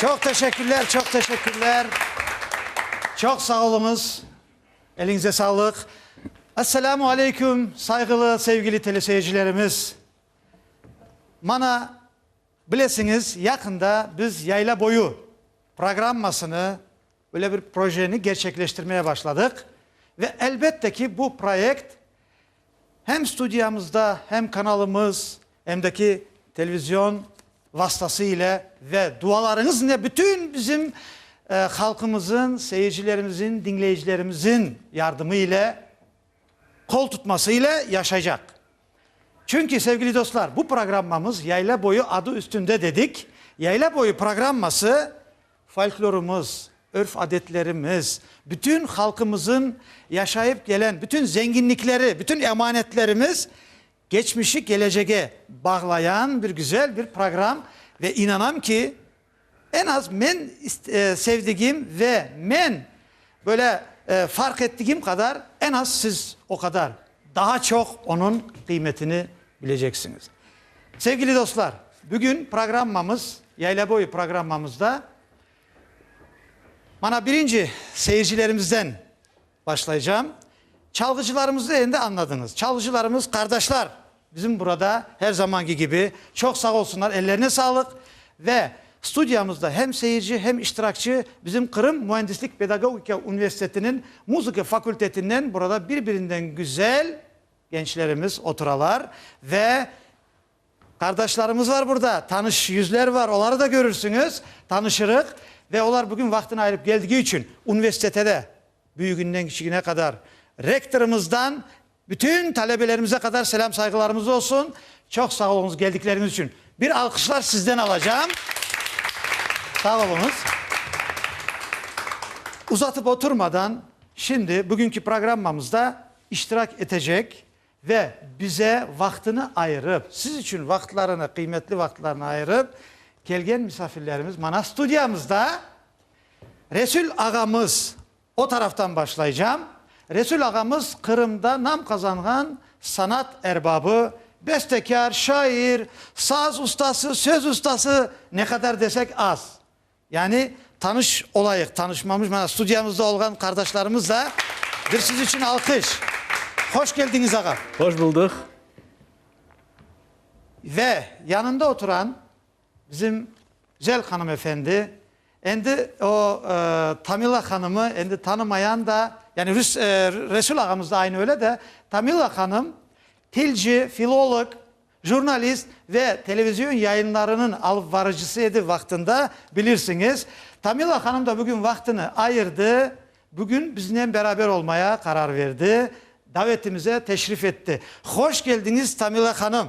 Çoq teşekkürler, çoq teşekkürler. Çoq sağ oluñız. Eliñize sağlıq. Esselamu aleyküm, sayğılı, sevgili teleseyircilerimiz. Mana, bilesiñiz, yaqında biz Yaylaboyu programmasını Böyle bir projeni gerçekleştirmeye başladıq ve elbette ki, bu proyekt hem studiyamızda, hem kanalımız, hem de ki, televizion vastası ile ve dualarıñız ile bütün bizim halqımızın, seyircilerimizin, diñleyicilerimizin yardımı ile, qol tutması ile yaşaycaq. Çünki, sevgili dostlar, bu programmamız Yayla boyu adı üstünde dedik. Yayla boyu programması, Folklorımız, örf-adetlerimiz, bütün halqımızın yaşayıp kelen bütün zenginlikleri, bütün emanetlerimiz keçmişi kelecege bağlayan bir güzel bir program ve inanam ki, en az men sevdigim ve men böyle fark ettigim qadar en az siz o qadar Daa çoq onıñ qıymetini bileceksiñiz. Sevgili dostlar, bugün programmamız, Yaylaboyu programmamızda mana birinci seyircilerimizden başlaycam. Çalğıcılarımızı endi añladıñız. Çalğıcılarımız, qardaşlar bizim burada her zamanki kibi. Çoq sağ olsunlar, ellerine sağlıq ve Studiyamızda hem seyirci, hem iştirakçı bizim Qırım müendislik-pedagogika universitetiniñ muzıka fakultetinden burada bir-birinden güzel gençlerimiz oturalar ve qardaşlarımız var burada, tanış yüzler var, oları da körürsüñiz, tanışırıq ve olar bugün vaqtını ayırıp keldigi içün universitete de, büyügünden kiçigine qadar rektorımızdan, Bütün talebelerimize qadar selâm-sayğılarımız olsun. Çoq sağ oluñız geldikleriñiz içün. Bir alqışlar sizden alacağım. Sağ oluñız. Uzatıp oturmadan, şimdi bugünki programmamızda iştirak etecek ve bize vaqtını ayırıp, siz içün vaqıtlarını, qıymetli vaqıtlarını ayırıp kelgen misafirlerimiz mana studiyamızda. Resül ağamız O taraftan başlaycam. Resul ağamız Qırımda nam qazanğan sanat erbabı, bestekâr, şair, saz ustası, söz ustası, ne qadar desek az. Yani tanış olayıq, tanışmamış, mana studiyamızda olğan qardaşlarımız da bir siz içün alqış. Hoş keldiñiz ağam. Hoş buldıq. Ve yanında oturan. Bizim güzel hanımefendi, endi o Tamila hanımı endi tanımayan da, yani Rüs, e, Resul ağamız da aynı öyle de, Tamila hanım tilci, filolog, jurnalist ve televizyon yayınlarınıñ alıpvarıcısı edi vaqtında, bilirsiñiz. Tamila hanım da bugün vaqtını ayırdı, bugün biznen beraber olmaya qarar verdi, davetimize teşrif etti. Hoş keldiñiz, Tamila hanım!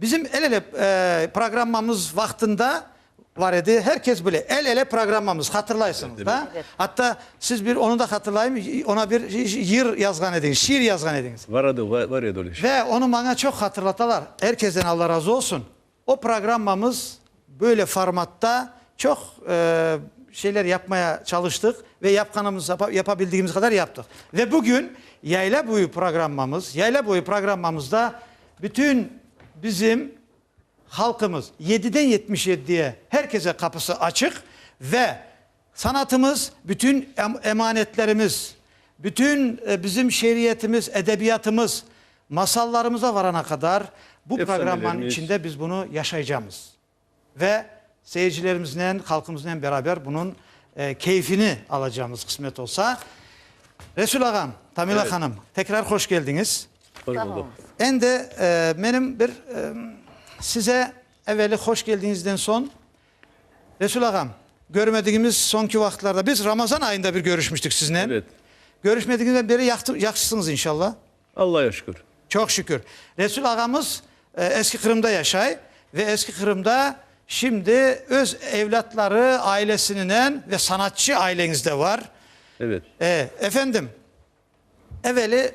Bizim El ele programmamız vaqtında bar edi, her kes bile, El ele programmamız, hatırlaysıñız da? Atta siz bir onı da hatırlayım, ona bir yır yazğan ediñiz, şiir yazğan ediñiz. Var edi, var edi öyle şey. Ve onı maña çoq hatırlatalar, er kesten Allah razı olsun. O programmamız böyle formatta çoq şeyler yapmaya çalıştıq ve yapqanımız, yapabildigimiz qadar yaptıq. Ve bugün Yayla boyu programmamız, Yayla boyu programmamızda bütün bizim halqımız, yediden yetmiş yeddiye her kese qapısı açıq ve Sanatımız, bütün emanetlerimiz, bütün bizim şeiriyetimiz, edebiyatımız, masallarımıza varana qadar bu programmanıñ içinde biz bunı yaşaycamız ve seyircilerimiznen, halqımıznen beraber bunıñ keyfini alacamız, qısmet olsa. Resul ağam, Tamila hanım, tekrar hoş keldiñiz. Sağ oluñız. Endi menim bir size evveli hoş keldiñizden soñ Resul ağam, görmediğimiz soñki vaqıtlarda, biz Ramazan ayında bir körüşmiştik siznen. Evet. Körüşmedigimizden beri yaqtı, yahşısıñız inşallah. Allaya şükür. Çoq şükür. Resul ağamız e, Eski Qırımda yaşay ve Eski Qırımda şimdi öz evlatları, ailesininen ve sanatçı aileñizde var. Evet. E, efendim, evveli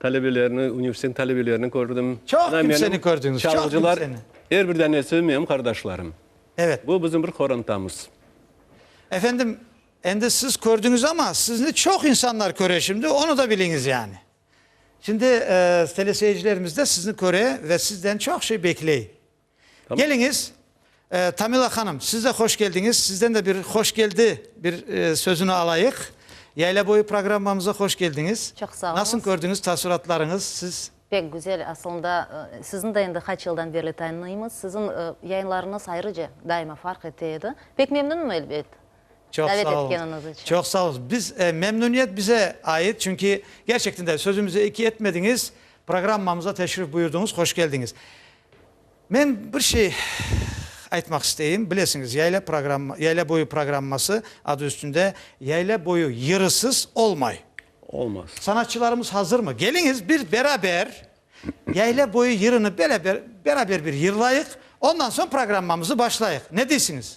Talebelerni, universitetniñ talebelerini kördim. Çoq kimseni kördüñiz, çoq kimseni. Er bir danesi menim qardaşlarım. Evet. Bu bizim bir qorantamız. Efendim, endi siz kördüñiz ama, sizni çoq insanlar köre şimdi, onı da biliñiz yani. Şimdi teleseyircilerimiz de sizni köre ve sizden çoq şey bekley. Keliñiz, Tamila hanım, siz de hoş keldiñiz, sizden de bir hoş keldi bir sözüni alayıq. Yayla boyu programmamıza hoş keldiñiz. Çoq sağ oluñız. Nasıl kördüñiz, taassuratlarıñız siz? Pek güzel, asılında sizni de endi qaç yıldan berli tanıymız, sizin yayınlarıñız ayrıca daima farq ete edi. Pek memnünüm, elbet, davet etkeniñiz içün. Çoq sağ oluñız. Biz, memnüniyet bize ait, çünki gerçekten de sözümüzde eki etmediñiz, programmamıza teşrif buyurdıñız, hoş keldiñiz. Men bir şey aytmaq isteyim. Bilesiñiz, yayla programma, yayla boyu programması adı üstünde yayla boyu yırısız olmay. Olmaz. Sanatçılarımız hazırmı? Geliñiz, bir beraber yayla boyu yırını beraber, beraber bir yırlayıq, ondan soñ programmamızı başlayıq. Ne deysiñiz?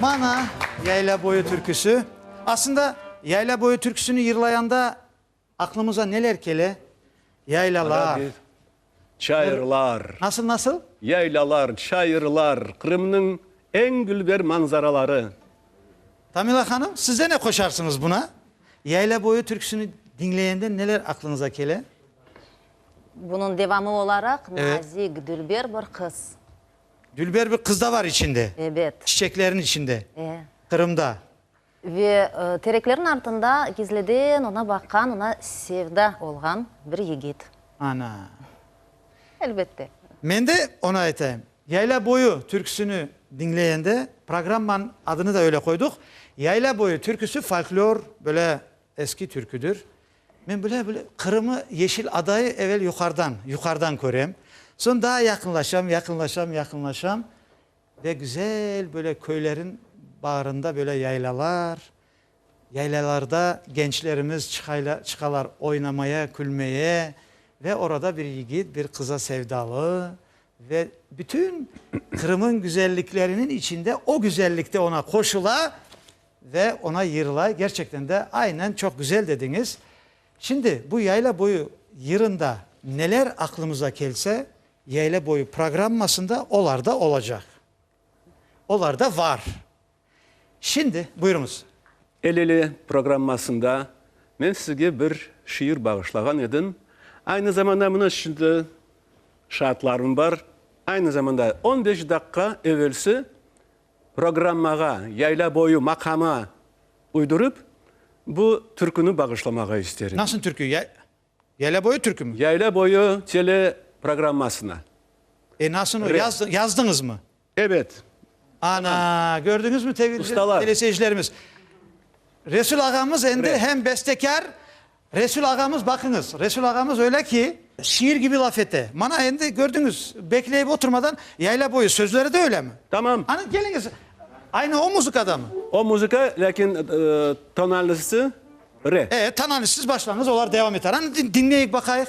Mana, Yayla boyu türküsi. Aslında, Yayla boyu türküsini yırlayanda aqlımıza neler kele? Yaylalar. Çayırlar. Nasıl, nasıl? Yaylalar, çayırlar, Qırımnıñ eñ dülber manzaraları. Tamila hanım, siz de ne qoşarsıñız buna? Yayla boyu türküsini diñleyende neler aqlınıza kele? Bunıñ devamı olaraq, nazik, dülber bir qız. Dülber bir qız da bar içinde. Ebet. Çiçeklerin içinde. E. Qırımda. Ve tereklerin artında gizliden ona baqqan, ona sevda olğan bir yigit. Ana. Elbette. Men de onı aytayım. Yayla boyu türküsini diñleyende, programmanıñ adını da öyle qoyduq, Yayla boyu türküsi folklor, böyle eski türküdir. Men bile bile Qırımı yeşil adayı evel yuqarıdan, yuqarıdan körem. Soñ daa yaqınlaşam, yaqınlaşam, yaqınlaşam ve güzel böyle köylerin bağrında böyle yaylalar, yaylalarda gençlerimiz çıqaylar, çıqalar oynamaya, külmeye ve orada bir yigit bir qıza sevdalı ve bütün Qırım'ın güzellikleriniñ içinde o güzellikte ona qoşula. Ve ona yırlay, gerçekten de, aynen, çoq güzel dediñiz. Şimdi, bu yayla boyu yırında neler aqlımıza kelse, yayla boyu programmasında olar da olacaq. Olar da var. Şimdi, buyurıñız. El-ele programmasında men sizge bir şiir bağışlağan edim. Aynı zamanda, mına şimdi şaatlarım bar, aynı zamanda, on beş daqqa evelsi Programmağa Yayla boyu maqamı uydurıp, bu türküni bağışlamağa isterim. Nasıl türkü? Yayla boyu türkümi? Yayla boyu tele programmasına. E, nasıl o? Yazdıñızmı? Evet. Ana, kördiñizmi teleseyircilerimiz? Resul ağamız endi hem bestekâr, Resul ağamız, baqıñız, Resul ağamız öyle ki, şiir kibi laf ete, mana endi kördiñiz, bekleyip oturmadan yayla boyu sözleri de öylemi? Tamam. Ana keliñiz, aynı o muzıkadamı? O muzıka, lâkin tonalnısı re. E, tonalnısız başlañız, olar devam eter, ana diñleyik baqayıq,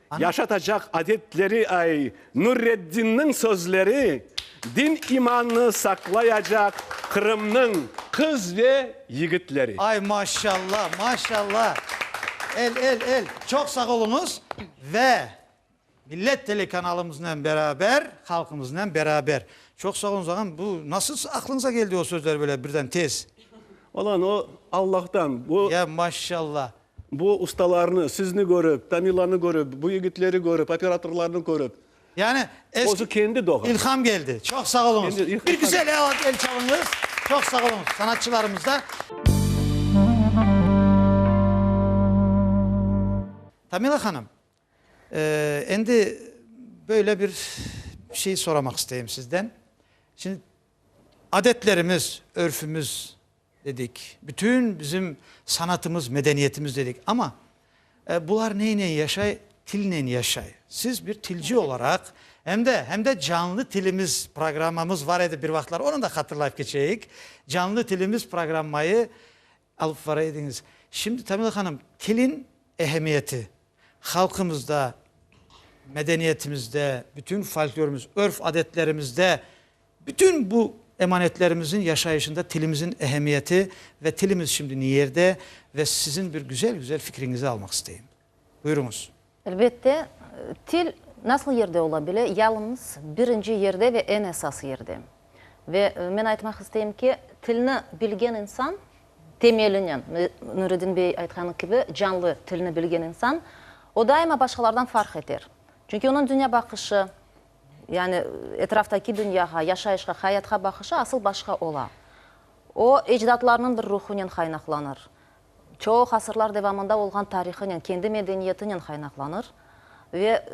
Yaşatacaq adetleri ay Nureddinniñ sözleri din imannı saqlayacaq Qırımnıñ qız ve yigitleri. Ay maşalla maşalla el el el çoq sağ oluñız ve millet telekanalımıznen beraber halqımıznen beraber çoq sağ oluñız ağam bu nasıl aqlıñıza keldi o sözler böyle birden tez. Ola o Allahtan bu. Ya maşalla. Bu ustalarnı, sizni körip, Tamilanı körip, bu yigitleri körip, operatorlarnı körip, Yani eski, özü kendi doğan. ilham geldi. Çoq sağ oluñız. Kendi ilham. Bir güzel el, el çalıñız. Çoq sağ oluñız sanatçılarımıza. Tamila hanım, eee, endi böyle bir şey soramaq isteyim sizden. Şimdi adetlerimiz, örfümüz. Dedik, bütün bizim sanatımız, medeniyetimiz dedik. Amma bular neynen yaşay? Tilnen yaşay. Siz bir tilci olaraq, hem de, hem de Canlı tilimiz programmamız var edi bir vaqıtlar, onı da hatırlayıp keçeyik. Canlı tilimiz programmayı alıp vara ediñiz. Şimdi, Tamila hanım, tilin ehemmiyeti, halqımızda, medeniyetimizde, bütün folklorımız, örf-adetlerimizde Bütün bu emanetlerimizin yaşayışında tilimizin ehemmiyeti ve tilimiz şimdi niyerde ve sizin bir güzel-güzel fikriñizi almaq isteyim. Buyuruñız. Elbette, til nasıl yerde ola bile? Yalıñız birinci yerde ve eñ esas yerde. Ve men aytmaq isteyim ki, tilni bilgen insan temelinen, Nuredin bey aytqanı kibi, canlı tilni bilgen insan, o daima başqalardan farq eter. Çünki onıñ dünya baqışı, Yani, etraftaki dünyağa, yaşayışqa, hayatqa baqışı asıl başqa ola. O, ecdatlarınıñ bir ruhunen qaynaqlanır, çoq asırlar devamında olğan tarihınen, kendi medeniyetinen qaynaqlanır. Ve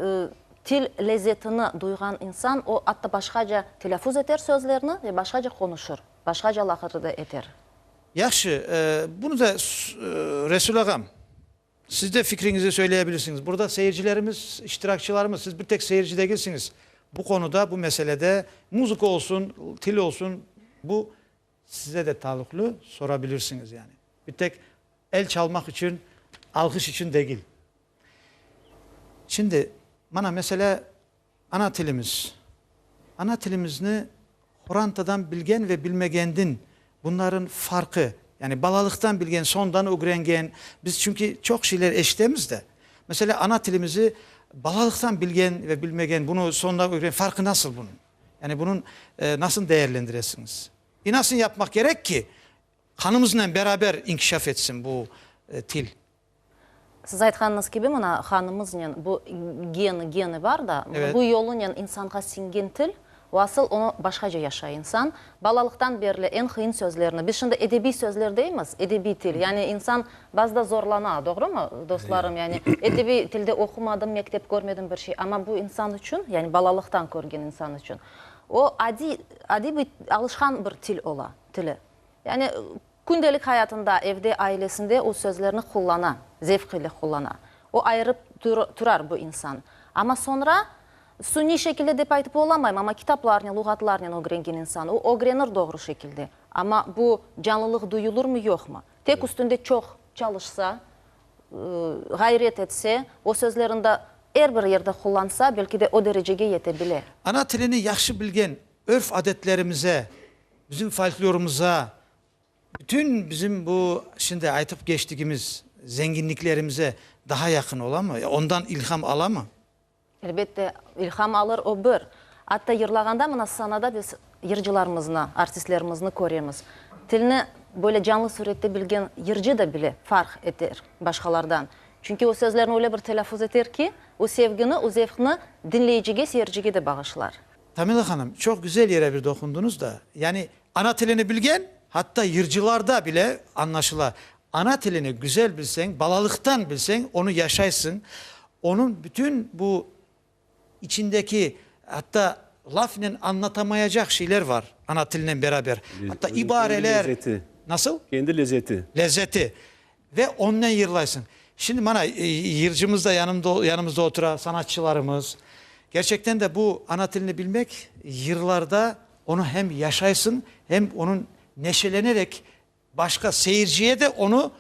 til lezzetini duyğan insan, o, atta başqaca telâfuz eter sözlerni ve başqaca qonuşır, başqaca laqırdı da eter. Yahşı, bunı da Resul ağam. Siz de fikriñizni söyleyebilirsiñiz. Burada seyircilerimiz, iştirakçılarımız, siz bir tek seyirci degilsiñiz. Bu qonuda, bu meselede, muzıka olsun, til olsun, bu size de taluqlı, sorabilirsiñiz yani. Bir tek el çalmaq içün, alğış içün degil. Şimdi, mana mesele Ana tilimiz. Ana tilimizni qorantadan bilgen ve bilmegenden bunların farqı, yani balalıqtan bilgen, soñdan ögrengen, biz çünki çoq şeyler eşitemiz de. Mesela, ana tilimizi balalıqtan bilgen ve bilmegen, bunı soñdan ögrengen farqı nasıl bunıñ? Yani bunıñ nasıl değerlendiresiñiz? Ve nasıl yapmaq kerek ki, qanımıznen beraber inkişaf etsin bu til? Siz aytqanıñız kibi, mına, hanımıznen bu geni, geni bar da, bu yolunen insanğa singen til, o asıl onı başqaca yaşay insan. Balalıqtan berli eñ qıyın sözlerni, biz şimdi edebiy sözler deymiz, edebiy til, yani insan bazıda zorlana, doğrumı, dostlarım? Yani edebiy tilde oqumadım, mektep körmedim, bir şey, amma bu insan içün, yani balalıqtan körgen insan içün o adiy, adiy bir alışqan bir til ola, tili. Yani. Kündelik hayatında, evde, ailesinde o sözlerni qullana, zevq ile qullana. O ayırıp turar bu insan. Amma soñra, suniy şekilde dep aytıp olamayım, amma kitaplarnen, luğatlarnen ögrengen insan, o ögrenir doğru şekilde. Amma bu canlılıq duyulırmı, yoqmı? Tek üstünde çoq çalışsa, ğayret etse, o sözlerin da er bir yerde qullansa, belki de o derecege yete bile. Ana tilini yahşı bilgen, örf-adetlerimize. Bizim folklorımıza, bütün bizim bu şimdi aytıp keçtigimiz zenginliklerimize daha yaqın olamı? Ondan ilham alamı? Elbette, ilham alır, o bir. Atta yırlağanda mına sahnada biz yırcılarımıznı, artistlerimizni köremiz. Tilni böyle canlı sürette bilgen yırcı da bile farq eter başqalardan. Çünki o sözlerni öyle bir telâffuz eter ki, o sevgini, o zevqni diñleyicige, seyircige de bağışlar. Tamila hanım, çoq güzel yere bir doqundınız da, yani ana tilini bilgen, hatta yırcılarda bile añlaşıla. Ana tilini güzel bilseñ, balalıqtan bilseñ, onı yaşaysıñ, onıñ bütün bu içindeki, hatta lafnen añlatamayacaq şeyler var, ana tilinen beraber, hatta ibareler. Kendi lezeti. Nasıl? Kendi lezeti. Lezeti. Ve onnen yırlaysıñ. Şimdi mana yırcımız da yanımızda otura, sanatçılarımız. Kerçekten de bu ana tilini bilmek, yırlarda onı hem yaşaysıñ, hem onıñ neşelenerek başqa seyirciye de onı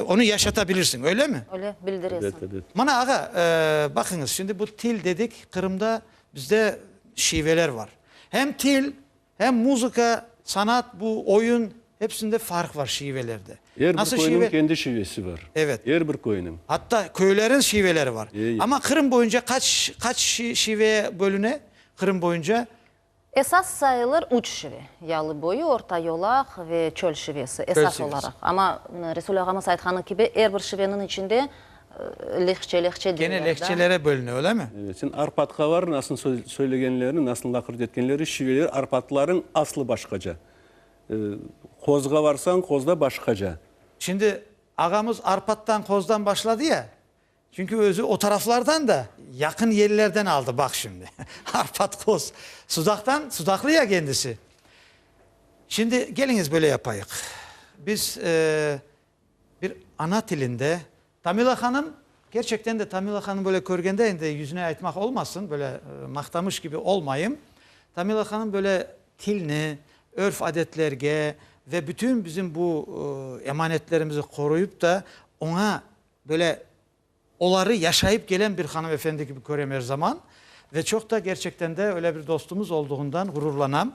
onı yaşatabilirsiñ, öylemi? Öyle, bildiresiñ. Mana ağa, baqıñız, şimdi bu til dedik, Qırımda bizde şiveler var. Hem til, Hem muzıka, sanat, bu, oyun, hepsinde farq var şivelerde. Er bir köyniñ kendi şivesi var. Evet. Er bir köyniñ. Atta köyleriñ şiveleri var. E, e. Amma Qırım boyunca qaç, qaç şive bölüne, Qırım boyunca? Esas sayılır üç şive, yalı boyu, orta yolaq ve çöl şivesi, esas olaraq. Amma Resul ağamız aytqanı kibi, er bir şiveniñ içinde Lehçe, lehçe diyorlar da. Kene lehçelere bölüne, öyle mi? Evet, şimdi Arpatkalar nasıl söylegenlerini, nasıl lakırdı etkenleri, şiveleri, Arpatların aslı başkaca. Qozğa varsañ, Qozda başkaca. Şimdi ağamız Arpattan, Qozdan başladı ya, çünki özü o taraflardan da, yaqın yerlerden aldı, baq şimdi, Arpat, Qoz. Sudaqtan, sudaqlı ya kendisi. Şimdi keliñiz böyle yapayıq. Biz Bir ana tilinde. Tamila hanım, kerçekten de Tamila hanım böyle körgende endi yüzüne aytmaq olmasın, böyle maqtamış kibi olmayım, Tamila hanım böyle tilni, örf adetlerge ve bütün bizim bu emanetlerimizi qoruyıp da oña böyle Oları yaşayıp kelen bir hanımefendi kibi körem er zaman ve çoq da gerçekten de öyle bir dostumuz olduğından ğururlanam.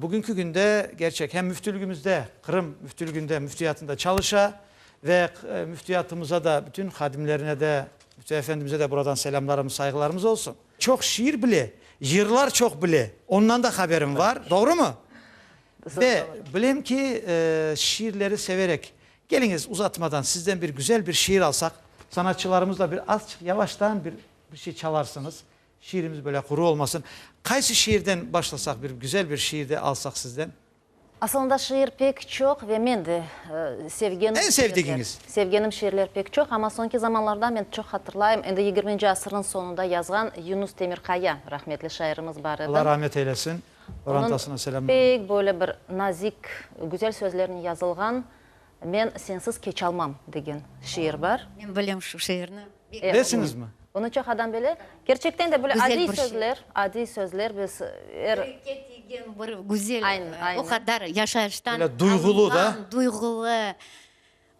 Bugünki günde gerçek hem Müftülügimizde, Qırım Müftülüginde Müftiyatında çalışa ve Müftiyatımıza da, bütün hadimlerine de, Müftü Efendimize de buradan selâmlarımız, sayğılarımız olsun. Çoq şiir bile, yırlar çoq bile, ondan da haberim var, doğrumı? Ve bilem ki, şiirleri severek Keliñiz, uzatmadan, sizden bir güzel bir şiir alsaq. Sanatçılarımız da bir azçıq yavaştan bir bir şey çalarsıñız, şiirimiz böyle quru olmasın. Qaysı şiirden başlasaq, bir güzel bir şiir de alsaq sizden? Asılında şiir pek çoq ve men de sevgenim. Eñ sevdigiñiz? Sevgenim şiirler pek çoq, amma soñki zamanlarda men çoq hatırlayım, endi yigirminci asırnıñ soñunda yazğan Yunus Temirqaya, rahmetli şairimiz bar edi. Allah rahmet eylesin. Onıñ pek böyle bir nazik, güzel sözlernen yazılğan Men sensiz keçalmam degen şiir bar. Men bilem şu şiirni. Bilesiñizmi? Bunı çoq adam bile. Kerçekten de böyle adiy sözler, adiy sözler biz er. Yürekke tiygen bir güzel, o qadar yaşayıştan alınğan, duyğulı.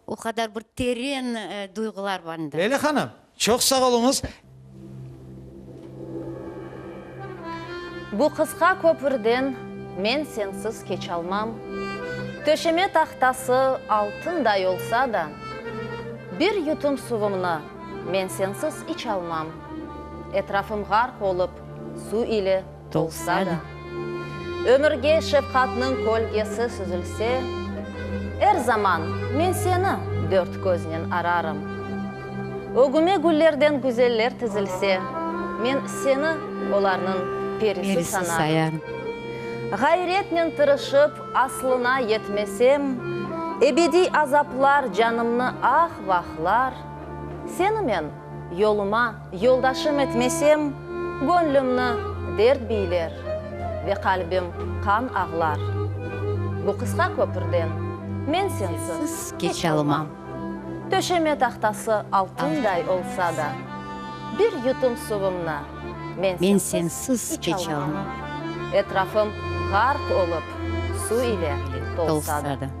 O qadar bir teren duyğular bende. Leyla hanım, çoq sağ oluñız. Bu qısqa köpürden men sensiz keçalmam. Töşeme tahtası altınday olsa da, bir yutum suvumnı men sensiz içalmam. Etrafım ğarq olıp su ile. Tolsa da, ömürge şefqatnıñ kölgesi süzülse, Er zaman men seni dört köznen ararım. Ögüme güllerden güzeller tizilse, Men seni olarnıñ perisi sanarım. Ğayretnen tırışıp, aslına yetmesem, Ebediy azaplar canımnı ah-vahlar, Seni men Yoluma yoldaşım etmesem, Göñlümni dert biyler Ve qalbim qan ağlar. Bu qısqa köpürden Men sensiz keçe almam. Töşeme tahtası altınday olsa da, Bir yutum suvumnı Men sensiz içalmam. Etrafım ğarq olıp su ile tolsa da.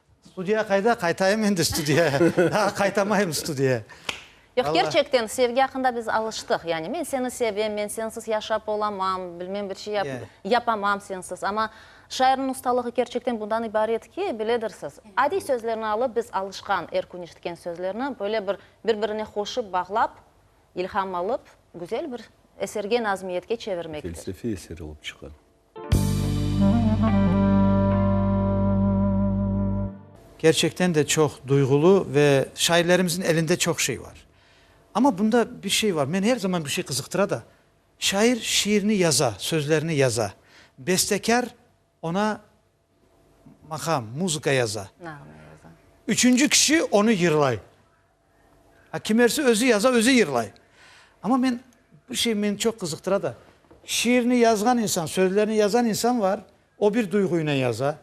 Studiya qayda? Qaytayım endi studiya. Daa qaytamayım studiya. Yoq, Valla. kerçekten sevgi aqqında biz alıştıq. Yani men seni sevem, men sensiz yaşap olamam, bilmem bir şey yap, yapamam sensiz. Amma şairniñ ustalığı kerçekten bundan ibaret ki, biledirsiz, adiy sözlerni alıp, biz alışqan, er kün eşitken sözlerni böyle bir bir-birine qoşıp, bağlap, ilham alıp, güzel bir eserge, nazmiyetke çevirmektir. Felsefiy eser olıp çıqa. Kerçekten de çoq duyğulu ve şairlerimizin elinde çoq şey var. Amma bunda bir şey var, meni er zaman bir şey qızıqtıra da, şair şiirini yaza, sözlerini yaza, bestekâr ona Maqam, muzıka yaza. Nağme yaza. Üçünci kişi onı yırlay. A kimersi özü yaza, özü yırlay. Amma men, bir şey meni çoq qızıqtıra da, şiirni yazğan insan, sözlerni yazan insan var, o bir duyğuynen yaza.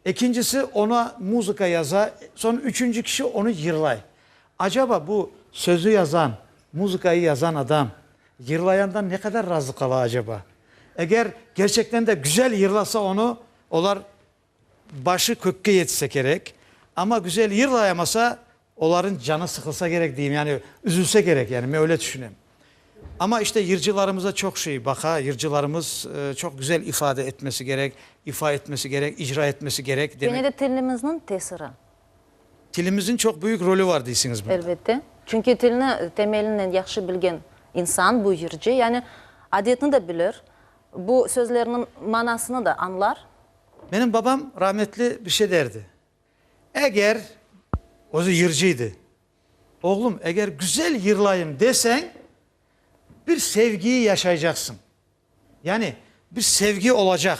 Ekincisi ona muzıka yaza, soñra üçünci kişi onı yırlay. Acaba bu sözü yazan, muzıkayı yazan adam Yırlayandan ne qadar razı qala acaba? Eger kerçekten de güzel yırlasa onı, olar başı kökke yetse kerek, amma güzel yırlayamasa, oların canı sıqılsa kerek deyim, yani üzülse kerek, yani men öyle tüşünem. Amma işte yırcılarımıza çoq şey baqa, yırcılarımız çoq güzel ifade etmesi kerek, ifa etmesi kerek, icra etmesi kerek. Gene de tilimizniñ tesiri. Tilimizniñ çoq büyük rolü var deysiñiz bunda? Elbette. Çünki tilni temelinden yahşı bilgen insan, buyırcı, yani adetni de bilir, bu sözlerniñ manasını da añlar. Menim babam rahmetli bir şey derdi, eger, özü yırcı edi, Oğlum, eger güzel yırlayım deseñ, bir sevgiyi yaşaycaqsıñ, yani bir sevgi olacaq.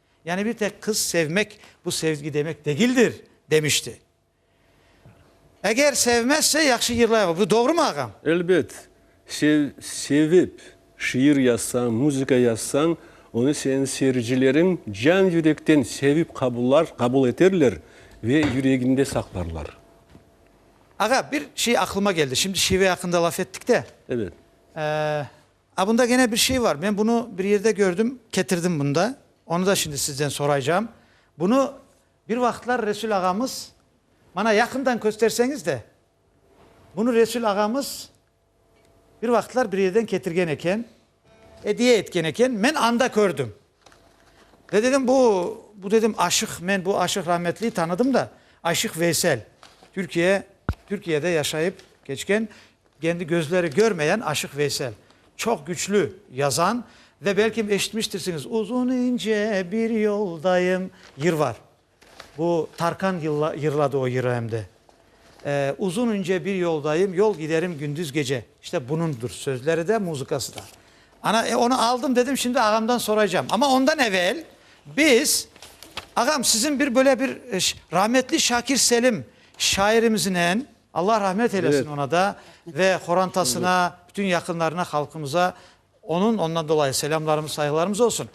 Yani bir tek qız sevmek, bu sevgi demek degildir, demişti. Eger sevmezse, yahşı yırlayva. Bu doğrumı, ağam? Elbet. Sev, sevip, şiir yazsañ, muzıka yazsañ, onı seniñ seyircileriñ can-yürekten sevip qabullar, qabul eterler ve yüreginde saqlarlar. Ağa, bir şey aqlıma keldi. Şimdi şive aqqında laf ettik de. Evet. Ee, A, bunda gene bir şey var. Men bunı bir yerde kördim, ketirdim bunda. Onı da şimdi sizden soraycağım. Bunı bir vaqıtlar Resul ağamız, mana yaqından kösterseñiz de, bunı Resul ağamız bir vaqıtlar bir yerden ketirgen eken, ediye etken eken, men anda kördim. Ve dedim, bu, bu dedim, Aşıq, men bu Aşıq rahmetliyi tanıdım da, Aşıq Veysel, Türkiye, Türkiyede yaşayıp keçken, kendi gözleri körmeyen Aşıq Veysel. Çoq küçlü yazan ve belkim eşitmiştirsiñiz, Uzun ince bir yoldayım, yır var. Bu Tarkan yırladı o yırıEmde uzun ince bir yoldayım, Yol giderim gündüz gece. İşte bunundur sözleri de, muzıkası da. Ana, e, onu aldım dedim, şimdi ağamdan soraycam. Ama ondan evel biz, ağam, sizin bir böyle bir rahmetli Şakir Selim şairimiznen, Allah rahmet eylesin Evet. ona da ve horantasına, bütün yaqınlarına, halqımıza Onıñ, ondan dolayı selâmlarımız, sayğılarımız olsun.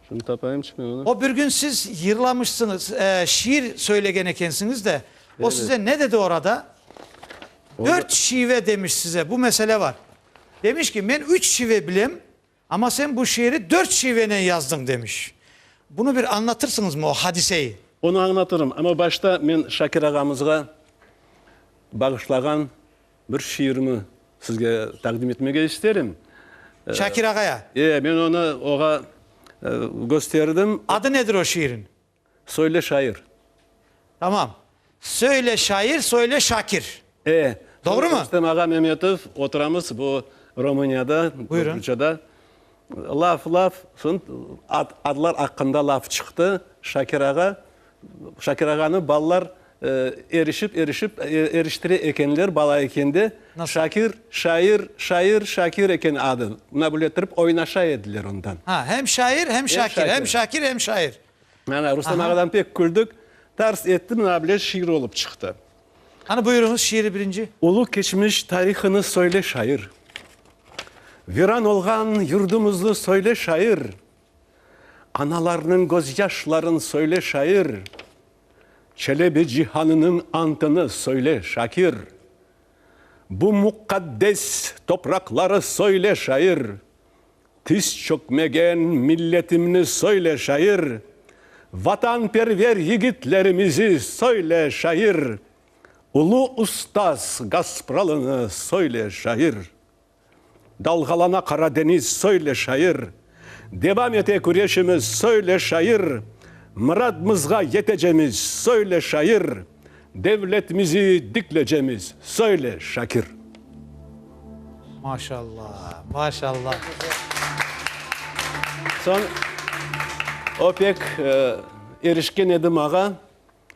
Şimdi tapayım çıkmay onı. O bir gün siz yırlamışsıñız, şiir söylegen ekensiñiz de, o size ne dedi orada? Dört şive demiş size, bu mesele var. Demiş ki, men üç şive bilem, amma sen bu şiiri dört şivenen yazdıñ, demiş. Bunı bir añlatırsıñızmı, o hadiseyi? Onı añlatırım, amma başta men Şakir ağamızğa bağışlağan, Bir şiirimi sizge taqdim etmege isterim. Şakir ağaya? E, men onı oğa gösterdim. Adı nedir o şiirin? Söyle şair. Tamam. Söyle şair, söyle Şakir. E. Doğru mu? Rustem ağa Memetov, oturamız bu Rumuniyada. Buyurun. Rusyada. Laf, laf, soñ adlar aqqında laf çıqtı. Şakir ağa, Şakir ağanı balalar erişip, erişip, eriştire ekenler, bala eken de. Şakir, şair, şair, Şakir eken adı. Bunabile ettirip oynaşa ediler ondan. Ha, hem şair, hem Şakir, hem Şakir, hem şair. Rustam ağadan pek küldük. Tars etti, bunabile şiir olıp çıqtı. Qani, buyurıñız, şiiri birinci. Ulu keçmiş tarihını söyle, şair. Viran olğan yurdumuznı söyle, şair. Analarnıñ gözyaşların söyle, şair. Çelebi cihanınıñ antını söyle, şakir. Bu muqaddes topraqları söyle, şair. Tiz çökmegen milletimni söyle, şair, Vatanperver yigitlerimizi söyle, şair, Ulu ustaz Gaspralını söyle, şair. Dalğalana Qara deñiz, söyle, şair, Devam ete küreşimiz, söyle, şair, Mıradmızğa yetecemiz, söyle, şair. Devletmizi diklecemiz, söyle, Şakir! Maşalla, maşalla! Soñ o pek erişken edi mağa,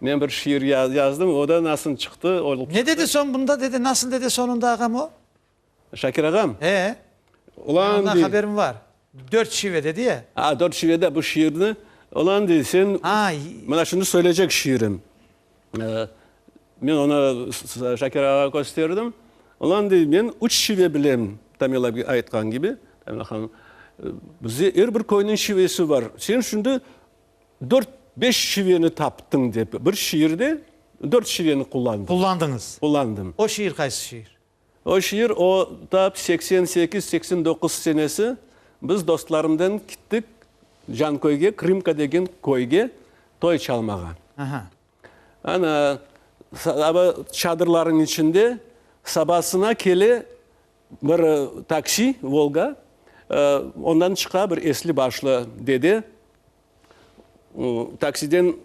men bir şiir yazdım, o da nasıl çıqtı, o. Ne dedi soñ bunda, dedi, nasıl dedi sonunda ağam o? Şakir ağam. E, men ondan haberim var. Dört şive dedi ya. A, dört şivede bu şiirni, ola endi sen, mana şimdi söyleycek şiirim. Men onı Şakir ağa kösterdim. Ola endi men üç şive bilem, Tamila aytqan kibi, Tamila hanım. Bizde er bir köyniñ şivesi var. Sen şimdi dört, beş şiveni taptıñ dep, bir şiirde dört şiveni qullandın. Qullandıñız. Qullandım. O şiir qaysı şiir? O şiir, o tap seksen sekiz, seksen doquz senesi biz dostlarımnen kittik Canköyge, Krımka degen köyge toy çalmağa. Aha. Ana, aba çadırlarnıñ içinde sabasına kele bir taksi, Volga, ondan çıqa bir esli-başlı dede. Taksiden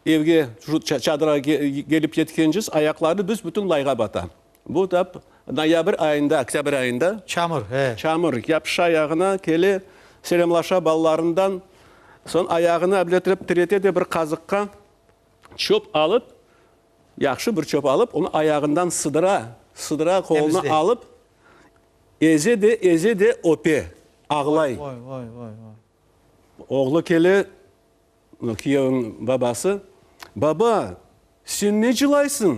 evge, çadıra kelip yetkenciz, ayaqları büs-bütün layğa bata. Bu tap noyabr ayında, oktâbr ayında. Çamur, e. Çamur, yapışa ayağına, kele, selamlaşa balalarından. Soñ ayağını abletirip, tirete de bir qazıqqa çöp alıp, yahşı bir çöp alıp, onı ayağından sıdıra, sıdıra, qoluna alıp, eze de, eze de öpe, ağlay. Vay, vay, vay, vay. Oğlu kele, kiyevniñ babası, Baba, sen ne cılaysıñ?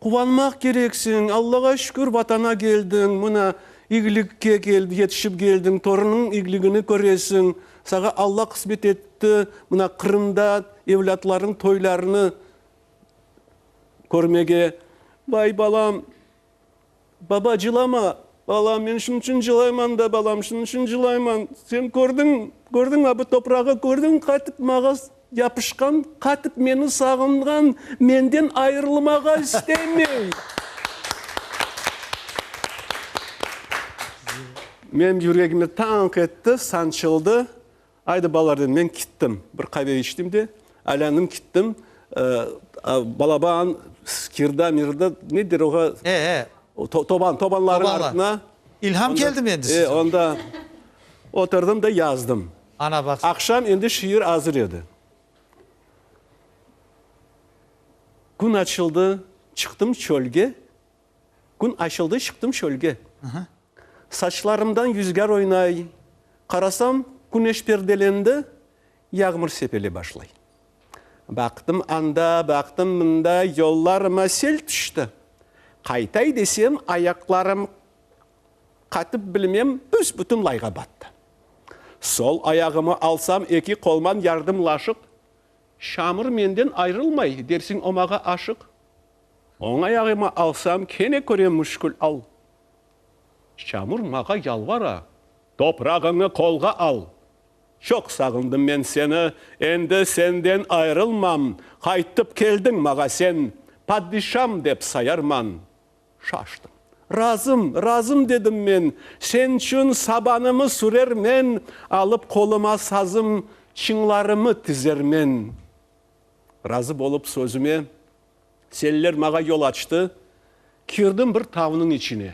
Quvanmaq kerek señ, Allağa şükür, Vatana keldiñ, mına, iyilikke yetişip keldiñ, torunıñ iyiligini köresiñ, saña Alla qısmet etti, mına, Qırımda evlâtlarınıñ toylarını körmege. Vay, balam! Baba, cılama! Balam, men şunıñ içün cılayman da, balam, şunıñ içün cılayman. Sen kördiñ, kördiñmi, bu toprağı kördiñmi, qatıp maña yapışqan, qatıp meni sağınğan, menden ayırılmağa istemey. Menim yüregimni tanq etti, sançıldı. Aydı balalar, dedim, men kittim. Bir qave içtim de, aylandım kittim. Balaba an skirda, mirda, ne der oğa? E-e. Toban, tobanlarnıñ artına. İlham keldimi endi size? E, onda oturdım da yazdım. Ana, baqsana. Aqşam endi şiir azır edi. Kün açıldı, çıqtım çölge, Kün açıldı, çıqtım çölge. Saçlarımdan yüzgâr oynay. Qarasam, küneş perdelendi, yağmur sepele başlay. Baqtım anda, baqtım mında, yollarıma sel tüşti. Qaytay desem, ayaqlarım qatıp bilmem, büs-bütün layğa battı. Sol ayağımı alsam, eki qolman yardımlaşıq, çamur menden ayrılmay, dersiñ omağa aşıq. Oña yağıma alsam, kene körem müşkül al. Çamur mağa yalvara, toprağıñı qolğa al. Çoq sağındım men seni, endi senden ayırılmam, qaytıp keldiñ mağa sen, padişam dep sayarman. Şaştım. Razım, razım dedim men, sen çün sabanımı sürermen, alıp qoluma sazım, çıñlarımı tizermen. Razı bolıp sözüme, Seller mağa yol açtı. Kirdim bir tavnıñ içine.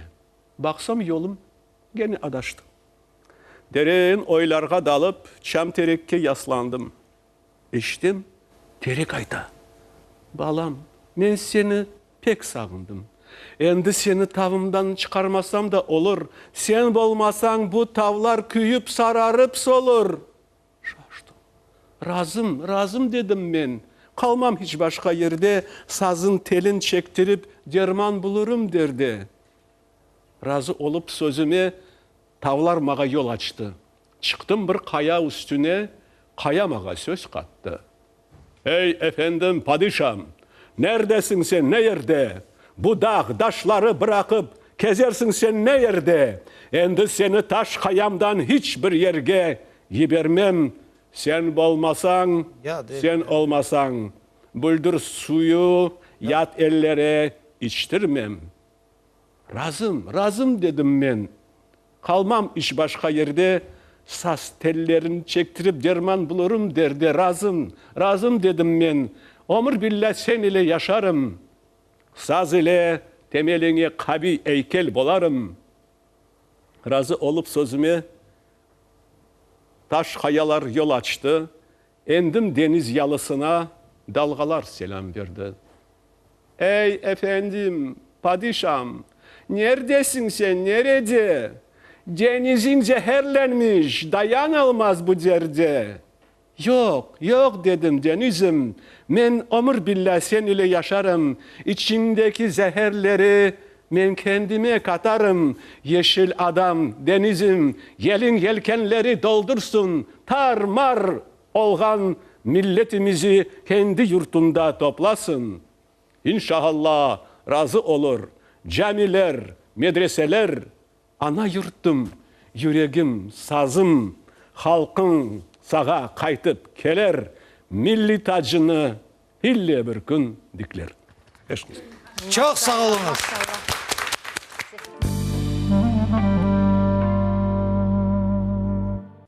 Baqsam, yolum gene adaştı. Derin oylarğa dalıp, çam-terekke yaslandım. Eşitem, terek ayta, Balam, men seni pek sağındım. Endi seni tavımdan çıqarmasam da olur. Sen bolmasañ, bu tavlar küyip, sararıp solur. Şaştım. Razım, razım, dedim men. Qalmam hiç başqa yerde, sazın telin çektirip, derman bulurım, derdi. Razı olıp sözüme, tavlar mağa yol açtı. Çıqtım bir qaya üstüne, qaya mağa söz qattı. Ey, efendim, padişam! Nerdesiñ sen, ne yerde? Bu dağ, daşları bıraqıp, kezersiñ sen ne yerde? Endi seni taş qayamdan hiç bir yerge yibermem. Sen bolmasañ, sen olmasañ, büldir suyı yat ellere içtirmem. Razım, razım, dedim men. Qalmam iç başqa yerde, saz tellerini çektirip derman bulurım derde. Razım, razım, dedim men. Ömür billa sen ile yaşarım. Saz ile temeliñe qaviy eykel bolarım. Razı olıp sözüme taş qayalar yol açtı. Endim deñiz yalısına dalğalar selâm berdi. Ey, efendim, padişam, nerdesiñ sen, nerede? Deñiziñ zeherlenmiş, dayan almaz bu derde. Yoq, yoq, dedim, deñizim, men ömür billâ sen ile yaşarım, içiñdeki zeherleri Men kendime katarım, yeşil adam, denizim, yeliñ yelkenleri doldursın, tar-mar olğan milletimizi kendi yurtunda toplasın. İnşaalla, razı olur, camiler, medreseler Ana yurtum, yüregim, sazım, halqıñ sağa qaytıp keler, milliy tacını ille bir kün dikler. Eşkıst. Çoq sağ oluñız.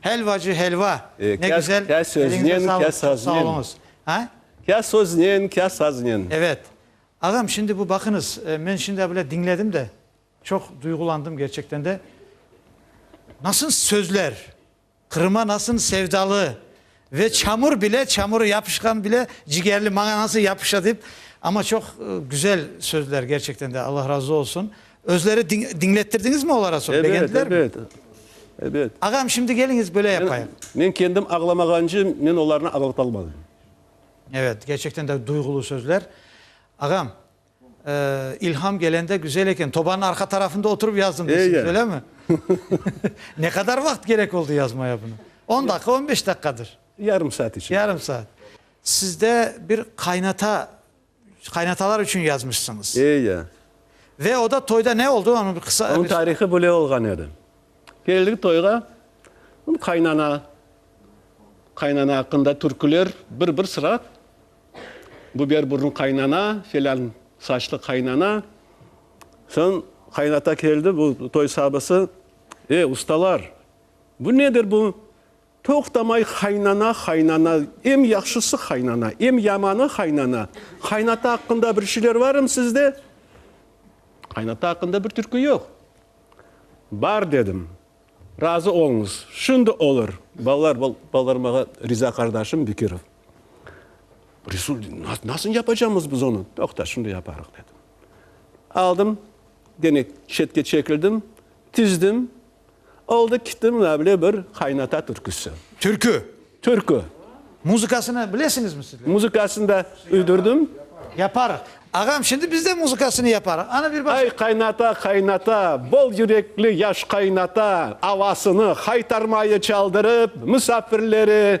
Helvacı helva, ne güzel, eliñize sağlık, çok sağ oluñız. Ha? Kâ söznen, kâ saznen. Evet. Ağam, şimdi bu baqıñız, men şimdi evvel diñledim de, çoq duyğulandım gerçekten de. Nasıl sözler, Qırım'a nasıl sevdalı ve çamur bile, çamurı yapışqan bile cigerli, maña nasıl yapışa dep, amma çoq güzel sözler gerçekten de, Allah razı olsun. Özleri diñlettirdiñizmi olara soñ, begendilermi? Ebet, ebet, ebet. Ağam, şimdi keliñiz, böyle yapayıq. Men kendim ağlamağancı, men olarnı ağlatalmadım. Ebet, kerçekten de duyğulu sözler. Ağam, ilham kelende güzel eken, tobanıñ arqa tarafında oturıp yazdım deysiniz, öylemi? Ne qadar vaqt kerek oldı yazmaya bunı? On daqı, on beş daqıqadır. Yarım saat içinde. Yarım saat. Sizde bir qaynata Qaynatalar içün yazmışsıñız. E, ya. Ve o da toyda ne oldu? Onı bir qısa. Onıñ tarihı böyle olğan edi. Keldik toyğa, qaynana, qaynana aqqında türküler bir-bir sıra, biber burunlı qaynana, felân saçlı qaynana. Soñ qaynata keldi, bu toy sabısı, E, ustalar, bu nedir bu? Toqtamay qaynana, qaynana, em yahşısı qaynana, em yamanı qaynana. Qaynata aqqında bir şeyler varım sizde? Qaynata aqqında bir türkü yoq. Bar dedim. Razı oluñız. Şimdi olur. Balalar, balalar mağa Riza qardaşım Bekirov. Resul, nasıl yapacamız biz onı? Toqta, şimdi yaparıq dedim. Aldım, gene şetke çekildim, tizdim. Oldı kitti münavle bir qaynata türküsi. Türkü. Türkü. Muzıkasını bilesiñizmi sizler? Muzıkasını da üydürdim. Yaparıq. Ağam, şimdi biz de muzıkasını yaparıq. Anı bir başa. Ay qaynata, qaynata, bol yürekli yaş qaynata, avasını haytarmayı çaldırıp, müsafirleri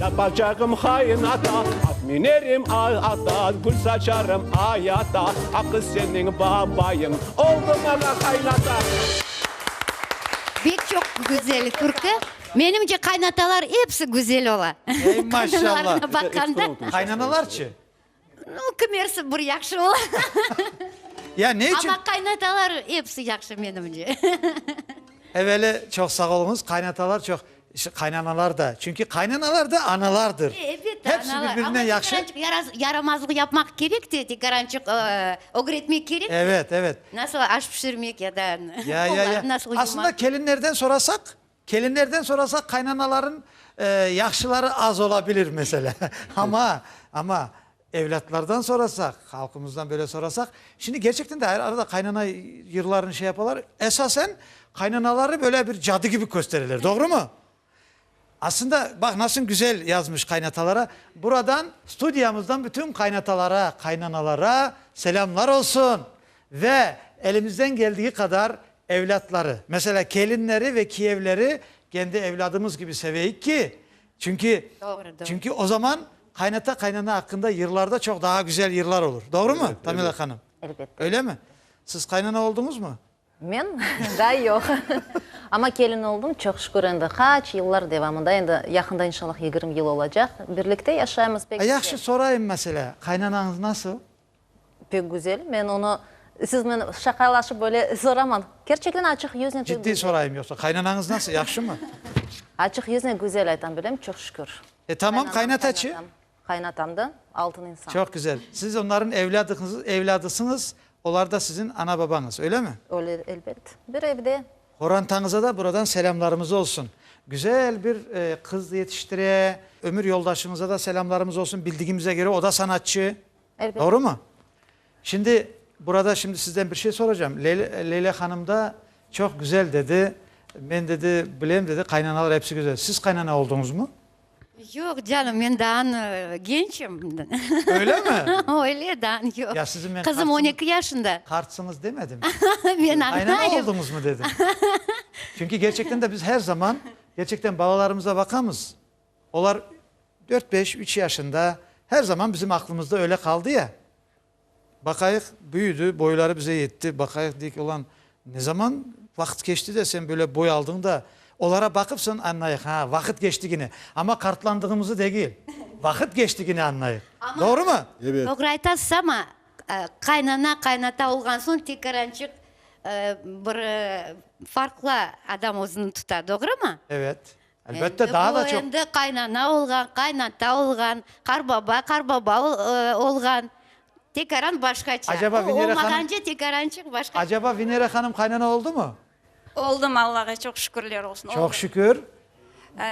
Tapacağım hain ata, at minerim ay ata, Gül saçarım ay ata, aqı seniñ babayıñ, Oldı maña qaynata. Bek çoq güzel türkü. Menimce qaynatalar epsi güzel ola. Ey maşallah. Qaynanalarına baqanda. Qaynanalarçı? No, kimersi bir yahşı ola. Ya ne içün? Amma qaynatalar episi yahşı menimce. Eveli çoq sağ oluñız, qaynatalar çoq, ş, qaynanalar da. Çünki qaynanalar da analardır. E, elbette, Hepsi analar. bir-birinden Amma yahşı. tekarançıq yaraz, yaramazlıq yapmaq kerek te, tekarançıq, ıı, ögretmek kerek. Evet, evet. Nasıl aş pişirmek ya da Ya, ya, ya. nasıl yumak. Aslında kelinlerden sorasaq, Kelinlerden sorasaq, qaynanaların yahşıları az ola bilir, meselâ. Amma, amma evlâtlardan sorasaq, halqımızdan böyle sorasaq, şimdi gerçekten de arada qaynana yırlarını şey yapalar, esasen qaynanaları böyle bir cadı kibi köstereler, doğrumı? Aslında, baq, nasıl güzel yazmış qaynatalara. Buradan studiyamızdan bütün qaynatalara, qaynanalara selâmlar olsun ve elimizden geldiği qadar Evlâtları, meselâ, kelinleri ve kiyevleri kendi evlâdımız kibi seveyik ki, çünki, çünki o zaman qaynata-qaynana aqqında yırlar da çoq daha güzel yırlar olur. Doğrumı, Tamila hanım? Elbette. Öylemi? Siz qaynana olduñızmı? Men? Daa yoq. Amma kelin oldım, çoq şükür, endi qaç yıllar devamında, endi yaqında, inşallah, yigirmi yıl olacaq. Birlikte yaşaymız, pek güzel. Yahşı, sorayım, meselâ, qaynanañız nasıl? Pek güzel. Men onı siznen şaqalaşıp böyle soraman. Kerçekten açıq yüznen. Ciddiy sorayım yoqsa. Qaynanañız nasıl, yahşımı? Açıq yüznen güzel aytam bilem, çoq şükür. E, tamam, qaynataçı? Qaynatam da altın insan. Çoq güzel. Siz onların evladısıñız, olar da siziñ ana-babañız, öylemi? Öyle, elbet. Bir evde. Qorantañıza da buradan selâmlarımız olsun. Güzel bir qız yetiştire. Ömür yoldaşıñıza da selâmlarımız olsun. Bildigimize köre, o da sanatçı. Doğrumı? Şimdi, burada şimdi sizden bir şey soracağım. Leyla hanımda çoq güzel dedi, men dedi, bilem dedi, qaynanalar episi güzel. Siz qaynana olduñızmı? Yoq canım, men daa gençim. Öylemi? Öyle, daa yoq. Ya sizi men. Qızım on eki yaşında. Qartsıñız demedim. Men anlayım. Qaynana olduñızmı dedim. Çünki gerçekten de biz her zaman, gerçekten balalarımıza baqamız. Olar dört-beş, üç yaşında, her zaman bizim aqlımızda öyle qaldı ya. Baqayıq, büyüdi, boyları bize yetti, baqayıq, deyik, ulan, ne zaman vaqıt keçti de sen böyle boy aldıñ da, olara baqıp soñ añlayıq, ha, vaqıt keçtigine, amma qartlandığımızı degil, vaqıt keçtigine añlayıq. Doğrumı? Evet. Doğru aytasız, amma qaynana, qaynata olğan soñ tekrar añçıq bir farqlı adam özüni tuta, doğrumı? Evet. Elbette, daa da çoq. Endi bu, endi qaynana olğan, qaynata olğan, qarbaba, qarbaba olğan, tekaran başqaça. Acaba Venera hanım. O olmağance tekarançıq başqaça. Acaba Venera hanım qaynana oldumı? Oldum, Allağa çoq şükürler olsun, oldum. Çoq şükür.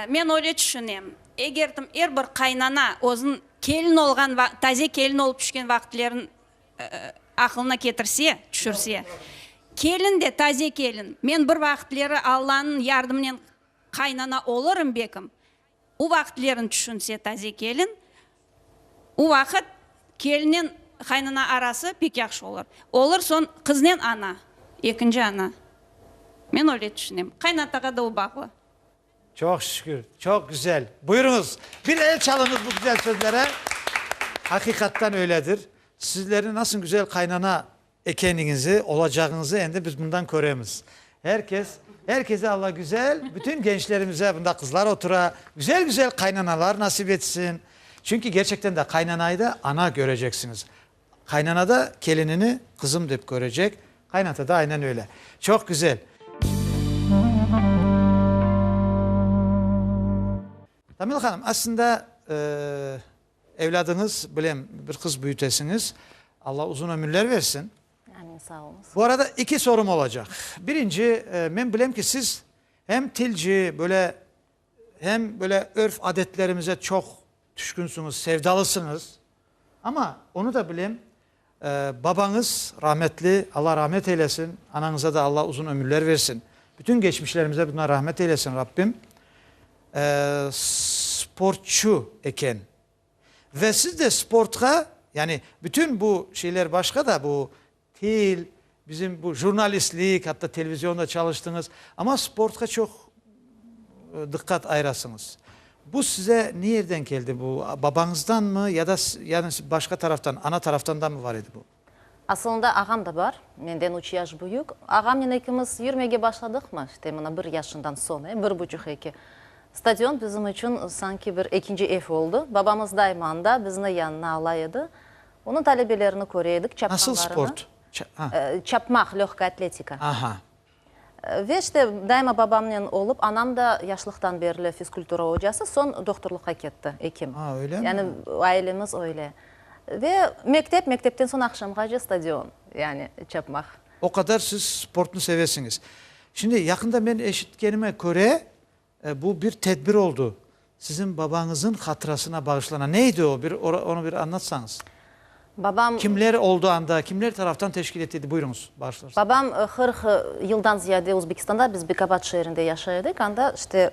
Men öyle tüşünem, eger dım er bir qaynana özün kelin olğan, taze kelin olıp tüşken vaqıtlerin aqılına ketirse, tüşürse, kelin de, taze kelin, men bir vaqıtleri Allanıñ yardımınen Qaynana olırım bekim. U vaqıtlerin tüşünse taze kelin, u vaqıt kelinen qaynana arası pek yahşı olur. Olur soñ qıznen ana, ekinci ana. Men öyle tüşünem. Qaynatağa da o bağlı. Çoq şükür, çoq güzel. Buyurunız, bir el çalınız bu güzel sözlere. Haqiqattan öyledir. Sizlerni nasıl güzel qaynana. Ekeniñizi, olacağıñızı endi biz bundan köremiz. Er kes, er kese Allagüzel, bütün gençlerimize, bunda qızlar otura, güzel-güzel qaynanalar nasip etsin. Çünki gerçekten de qaynanayı da ana köreceksiñiz. Qaynana da kelinini qızım dep körecek, qaynata da aynen öyle. Çoq güzel. Tamila hanım, aslında, Evladıñız bilen bir qız büyütesiñiz. Alla uzun ömürler versin. Amin, sağ oluñız. Bu arada iki sorım olacaq. Birinci, men bilem ki, siz hem tilci, böyle, hem böyle örf-adetlerimize çoq tüşkünsüñiz, sevdalısıñız. Amma, onı da bilem. Babañız rahmetli, Alla rahmet eylesin, anañıza da Alla uzun ömürler versin. Bütün geçmişlerimize bundan rahmet eylesin Rabbim. Sportçu eken. Ve siz de sportqa, yani bütün bu şeyler başqa da, bu til, Bizim bu jurnalistlik, atta televizionda çalıştıñız, amma sportqa çoq diqqat ayırasıñız. Bu size ne yerden keldi bu? Babañızdanmı ya da yani başqa taraftan, ana taraftandanmı bar edi bu? Asılında ağam da bar, menden üç yaş büyük. Ağamnen ekimiz yürmege başladıq mı, işte mına bir yaşından soñ, e, bir buçuq, eki. Stadion bizim içün sanki bir ekinci ev oldı. Babamız daima anda, bizni yanına ala edi. Onıñ talebelerini köre edik, çapqanlarını. Nasıl sport? Çapmaq, löhka atletika. Ve işte daima babamnen olıp, anam da yaşlıqtan berli fizkultura ocası, soñ doktorlıqqa ketti, ekim. Yani ailemiz öyle. Ve mektep, mektepten soñ aqşamğace stadion, yani çapmaq. O qadar siz sportnı sevesiñiz. Şimdi yaqında men eşitkenime köre, Bu bir tedbir oldu. Siziñ babañızıñ hatırasına bağışlanan. Ne edi o? Bir onı bir añlatsañız. Babam. Kimler oldu anda? Kimler taraftan teşkil etildi? Buyuruñız, bağışlarsınız. Babam qırq yıldan ziyade Özbekistanda, biz Bekabad şeerinde yaşay edik. Anda işte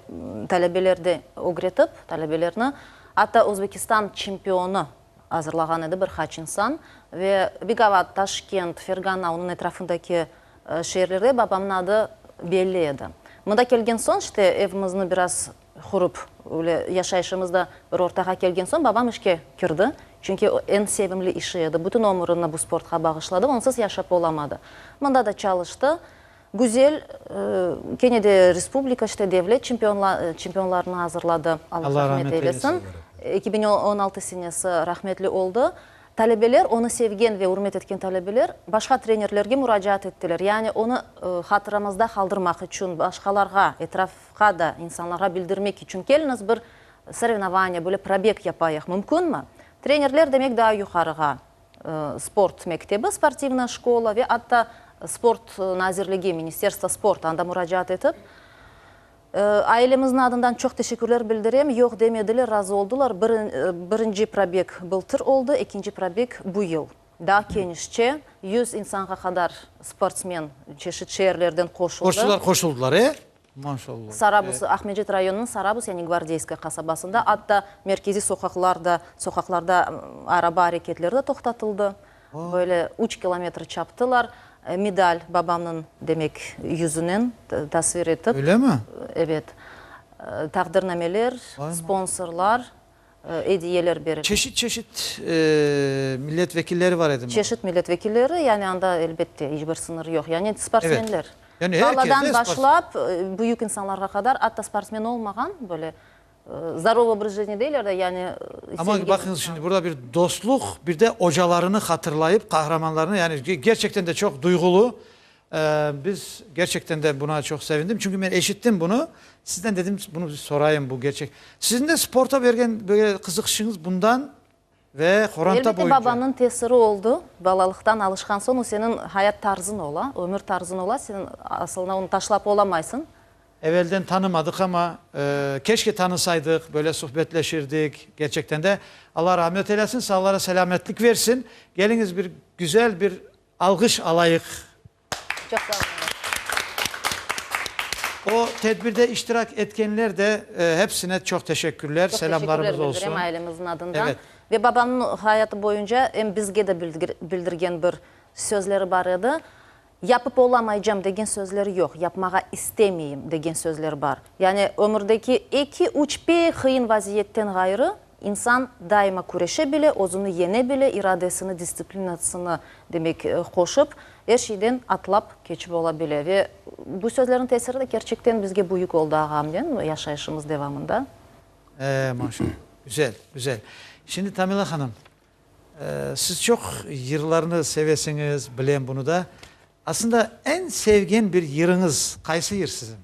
talebelerdi ögretip, talebelerni, atta Özbekistan çempionı, azırlağan edi bir qaç insan. Ve Bigavat, Taşkent, Fergana, onıñ etrafındaki şeerlerde babamnıñ adı belli edi. Mında kelgen soñ, işte, evimizni biraz qurıp, öyle yaşayışımız da bir ortağa kelgen soñ, babam işke kirdi. Çünki o, eñ sevimli işi edi. Bütün ömrüni bu sportqa bağışladı, onsız yaşap olamadı. Mında da çalıştı. Güzel, kene de respublika, işte, devlet çempionlarını azırladı. Allah rahmet eylesin. Eki biñ on altı senesi rahmetli oldı. Talebeler, onı sevgen ve ürmet etken talebeler başqa trenerlerge muracaat ettiler. Yani onı hatıramızda qaldırmaq içün, başqalarğa, etrafqa da, insanlarğa bildirmek içün, keliñiz bir sorenovaniya, böyle probeg yapayıq, mümkünmi? Trenerler demek, daa yuqarığa, sport mektebi, sportivnaya şkola, ve atta Sport nazirligi, Ministerstvo sporta, anda muracaat etip, ailemizniñ adından çoq teşekkürler bildirem, yoq demediler, razı oldılar. Bir, birinci probeg bıltır oldı, ekinci probeg bu yıl. Daa kenişçe, yüz insanğa qadar sportsmen çeşit şeerlerden qoşuldı. Sportçular qoşuldılar, e? Sarabus, Aqmecet rayonınıñ Sarabus, yani Gvardeyskoye qasabasında, atta merkeziy soqaqlar da, soqaqlarda araba areketleri de toqtatıldı, böyle üç kilometr çaptılar. Medal babamnıñ, demek, yüzünen tasvir etip, evet, taqdirnameler, sponsorlar. ediyeler berildi. Çeşit-çeşit millet vekilleri var edimi? Çeşit millet vekilleri, yani anda, elbette, iç bir sınır yoq. Yani sportsmenler. Yani herkes de sportsmen. Baladan başlap, büyük insanlarğa qadar, atta sportsmen olmağan, böyle, zdarov obraz jitni deyler de, yani. Amma baqıñız, şimdi burda bir dostluq, bir de ocalarını hatırlayıp, qahramanlarını, yani, gerçekten de çoq duyğulu. Biz, gerçekten de buna çoq sevindim, çünki men eşittim bunı, sizden dedim, bunı bir sorayım, bu gerçek. Siziñ de sporta bergen böyle qızıqışıñız bundan ve qoranta boyunca? Elbette, babamnıñ tesiri oldı, balalıqtan alışqan soñ, o seniñ hayat tarzıñ ola, ömür tarzıñ ola, sen asılına onı taşlap olamaysıñ. Evelden tanımadıq, amma keşke tanısaydıq, böyle suhbetleşirdik, gerçekten de. Alla rahmet eylesin, sağlara selâmetlik versin. Geliñiz, bir güzel bir Alğış alayıq. Çoq sağ olunız. O tedbirde iştirak etkenler de hepsine çoq teşekkürler, selamlarımız olsun. Çoq teşekkürler bildirem ailemizin adından. Evet. Ve babamnıñ hayatı boyunca em bizge de bildirgen bir sözleri bar edi, Yapıp olamaycam degen sözler yoq, yapmağa istemeyim degen sözler bar. Yani ömürdeki eki-üç pek qıyın vaziyetten ğayrı İnsan daima küreşe bile, özüni yeñe bile, iradesini, dissiplinasını, demek, qoşıp, er şeyden atlap keçip ola bile. Ve bu sözlerniñ tesiri de kerçekten bizge büyük oldı ağamnen yaşayışımız devamında. Ee, maşallah. Güzel, güzel. Şimdi Tamila hanım, siz çoq yırlarnı sevesiñiz, bilem bunu da. Aslında eñ sevgen bir yırıñız qaysı yır siziñ?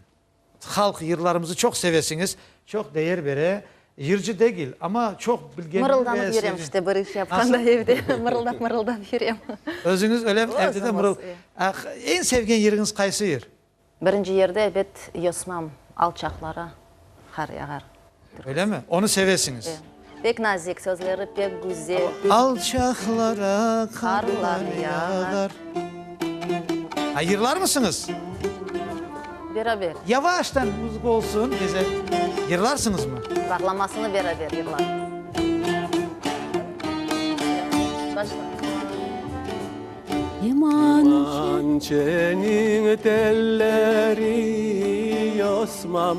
Halq, yırlarımızı çoq sevesiñiz. Çoq deyer bere. Yırcı degil, amma çoq bilgenini ve. Mırıldanıp yürem işte bir iş yapqanda evde mırıldap mırıldap yürem. Özüñiz ölem evde de mırıl. Eñ sevgen yırıñız qaysı yır? Birinci yerde ebet yosmam alçaqlara qar yağar. Öylemi? Onı sevesiñiz? Pek nazik, sözleri pek güzel. Alçaqlara qarlar yağar. Ha, yırlarmısıñız? Beraber. Yavaştan muzıka olsun, bize yırlarsıñızmı? Bağlamasını beraber yırlarız. Başla. Limonçeniñ telleri yosmam.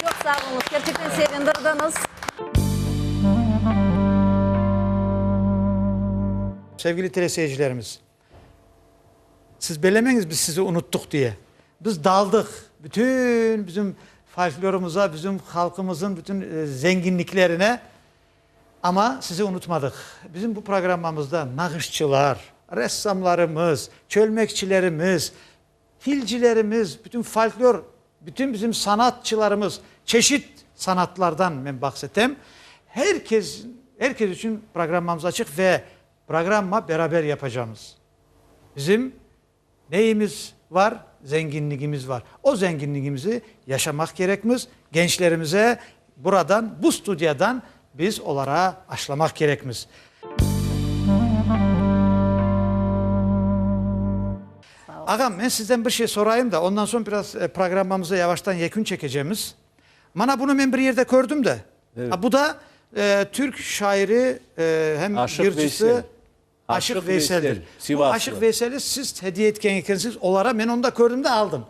Çoq sağ oluñız, kerçekten sevindirdiñiz. Sevgili teleseyircilerimiz, siz bellemeñiz biz sizi unuttuq diye. Biz daldıq, bütün bizim folklorımıza, bizim halqımızın bütün zenginliklerine, amma sizi unutmadıq. Bizim bu programmamızda nağışçılar, ressamlarımız, çölmekçilerimiz, Tilcilerimiz, bütün folklor, bütün bizim sanatçılarımız, çeşit sanatlardan men bahs etem, her kes, her kes içün programmamız açıq ve programma beraber yapacağımız. Bizim neyimiz var? Zenginligimiz var. O zenginligimizi yaşamaq kerekmiz, gençlerimize Buradan, bu studiyadan biz olara aşlamaq kerekmiz. Ağam, men sizden bir şey sorayım da, ondan soñ biraz programmamıza yavaştan yekün çekecemiz. Mana bunı men bir yerde kördim de. Ha, bu da türk şairi, hem yırcısı Aşıq Veyseldir. Bu Aşıq Veyseli siz hediye etken ekensiz olara, men onda kördim de aldım.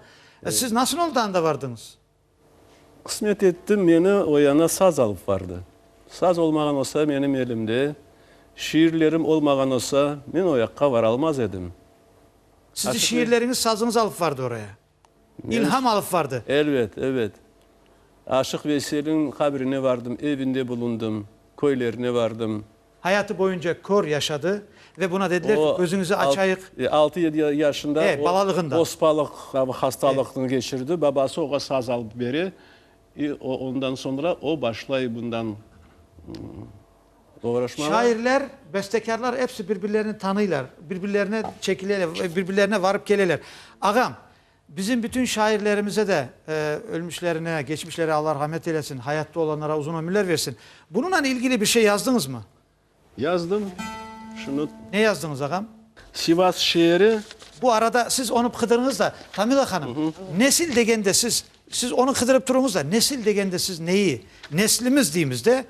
Siz nasıl oldı anda vardıñız? Qısmet etti, meni o yana saz alıp bardı. Saz olmağan olsa menim elimde, şiirlerim olmağan olsa, men o yaqqa varalmaz edim. Sizni şiirleriñiz, sazıñız alıp vardı oraya? İlham alıp vardı? Elbet, elbet. Aşıq Veyselin qabrine vardım, evinde bulundım, köylerine vardım. Hayatı boyunca kör yaşadı ve buna dediler ki, gözüñizi açayıq. O, altı-yedi yaşında o ospalıq hastalıqnı keçirdi, babası oğa saz alıp bere, i o ondan soñra o başlay bundan oğraşmağa. Şairler, bestekârlar episi bir-birlerini tanıylar, bir-birlerine çekileler, bir-birlerine varıp keleler. Ağam, Bizim bütün şairlerimize de ölmüşlerine, geçmişlere Alla rağmet eylesin, hayatta olanlara uzun ömürler versin. Bununla ilgili bir şey yazdıñızmı? Yazdım. Şunı. Ne yazdıñız ağam? Sivas şeeri. Bu arada siz onı bqıdırıñız da, Tamila hanım, nesil degende siz, siz onı qıdırıp turuñız da, nesil degende siz neyi, neslimiz deymiz de,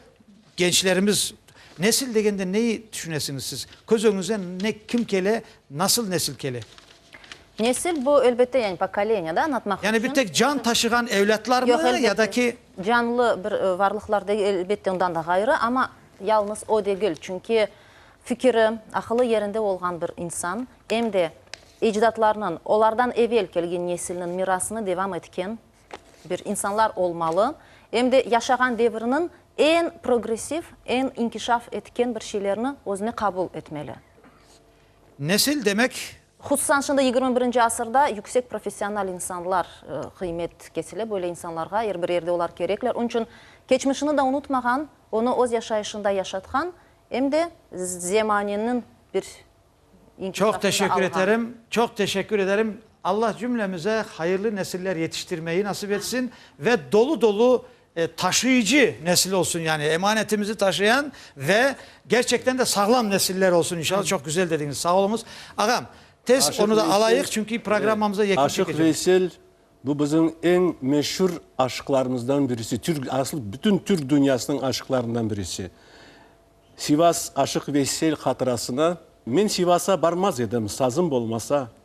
gençlerimiz, nesil degende neyi tüşünesiñiz siz? Köz öñüñizde ne, kim kele, nasıl nesil kele? Nesil, bu, elbette, yani pokoleniya da añlatmaq içün. Yani bir tek can taşığan evlâtlarmı ya da ki? Yoq, elbette, canlı bir varlıqlar degil, elbette, ondan da ğayrı, amma yalnız o degil, çünki fikiri, aqılı yerinde olğan bir insan, em de ecdatlarınıñ, olardan evel kelgen nesilniñ mirasını devam etken bir insanlar olmalı, em de yaşağan deviriniñ eñ progressiv, eñ inkişaf etken bir şeylerni özüne qabul etmeli. Nesil demek. Hususan şimdi yigirmi birinci asırda yüksek professional insanlar qıymet kesile, böyle insanlarğa er bir yerde olar kerekler. Onıñ içün keçmişini da unutmağan, onı öz yaşayışında yaşatqan, em de zemaneniñ bir inkişafında alğan. Çoq teşekkür eterim, çoq teşekkür ederim. Allah cümlemize hayırlı nesiller yetiştirmeyi nasip etsin ve dolu-dolu taşıyıcı nesil olsun, yani emanetimizi taşıyan ve gerçekten de sağlam nesiller olsun inşallah. Çok güzel dediñiz, sağ oluñız. Ağam, tez onu da alayıq, çünki programmamıza yekün çekeceğiz. Aşıq Veysel, bu bizim eñ meşur aşıqlarımızdan birisi, aslı bütün Türk dünyasınıñ aşıqlarından birisi. Sivas Aşıq Veysel hatırasına, men Sivasa barmaz edim, sazım olmasa,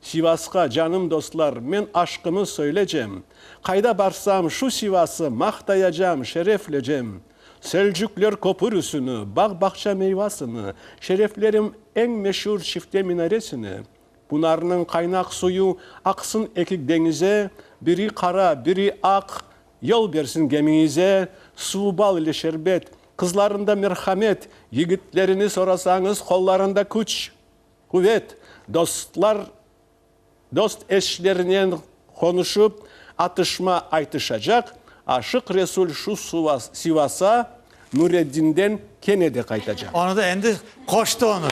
Sivasqa, canım dostlar, men aşqımı söylecem. Qayda barsam, şu Sivası maqtayacam, şereflecem. Selcükler köpürüsini, bağ-bağça meyvasını, şereflerim eñ meşur çifte minaresini. Bunarnıñ qaynaq suyu aqsın ekik deñize, biri qara, biri aq, yol bersin gemiñize. Suvu bal ile şerbet, qızlarında merhamet, yigitlerini sorasañız, qollarında küç. Quvet, dostlar dost eşlerinen qonuşıp, atışma aytışacaq, Aşıq Resul şu Sivasa Nureddinden kene de qaytacaq. Onı da endi qoştı onı.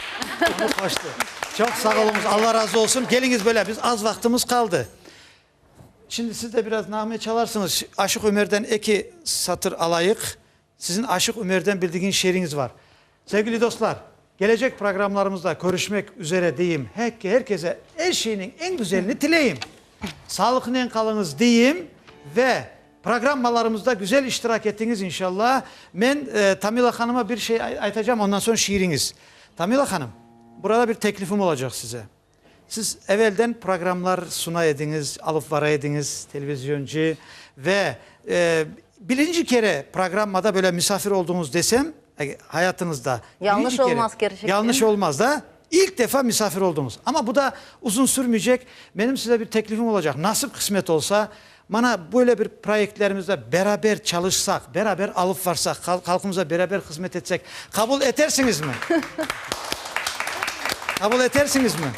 Onı qoştı. Çoq sağ oluñız, Alla razı olsun. Keliñiz böyle, biz az vaqtımız qaldı. Şimdi siz de biraz nağme çalarsıñız. Aşıq Ömerden eki satır alayıq. Siziñ Aşıq Ümerden bildigiñ şiiriñiz var. Sevgili dostlar, gelecek programlarımızda körüşmek üzere deyim, her kese er şeyniñ eñ güzelini tileyim, salıqnen qalıñız deyim ve programmalarımızda güzel iştirak etiñiz inşalla. Men Tamila hanıma bir şey aytacam, ondan soñ şiiriñiz. Tamila hanım, burada bir teklifim olacaq size. Siz evelden programlar suna ediñiz, alıp bara ediñiz, televizyoncı, ve birinci kere programmada böyle misafir olduñız desem, hayatıñızda, birinci kere, yañlış olmaz da, ilk defa misafir olduñız. Amma bu da uzun sürmeycek, menim size bir teklifim olacaq, nasip qısmet olsa, Mana, böyle bir proyektlerimizde beraber çalışsaq, beraber alıp varsaq, halqımıza beraber hızmet etsek, qabul etersiñizmi? Qabul etersiñizmi?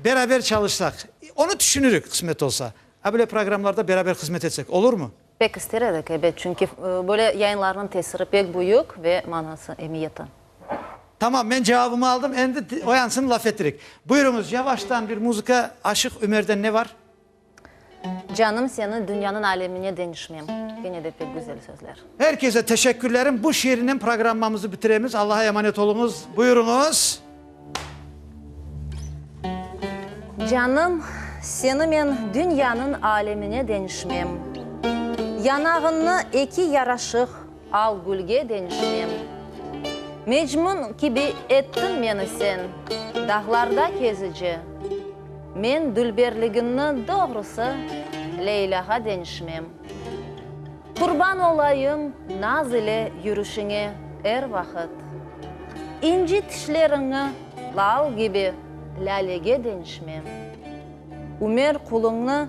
Beraber çalışsaq, onı tüşünirik, qısmet olsa. A böyle programlarda beraber hızmet etsek, olurmı? Pek ister edik, ebet, çünki böyle yayınlarnıñ tesiri pek büyük ve manası, emiyeti. Tamam, men cevabımı aldım, endi oyansın, laf etirik. Buyurıñız, yavaştan bir muzıka, Aşıq Ümer'den ne var? Canım seni dünyanıñ alemine deñişmem. Gene de pek güzel sözler. Er kese teşekkürlerim. Bu şiirnen programmamızı bitiremiz. Allaha emanet oluñız. Buyuruñız. Canım seni men dünyanıñ alemine deñişmem. Yanağıñnı eki yaraşıq. Al gülge deñişmem. Mecmun kibi ettin meni sen, Dağlarda kezici. Men dülberliginni doğrusı, Leylâğa deñişmem. Qurban olayım naz ile yürüşiñe er vaqıt. İnci tişleriñni lal kibi lâlege deñişmem. Ümer quluñni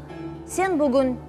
sen bugün.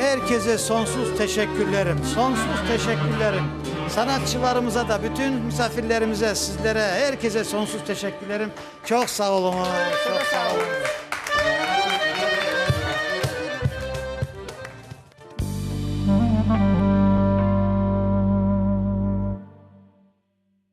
Er keze sonsuz teşekkürlerim, sonsuz teşekkürlerim. Sanatçılarımıza da, bütün misafirlerimize, sizlere, er keze sonsuz teşekkürlerim. Çoq sağ oluñız, çoq sağ oluñız.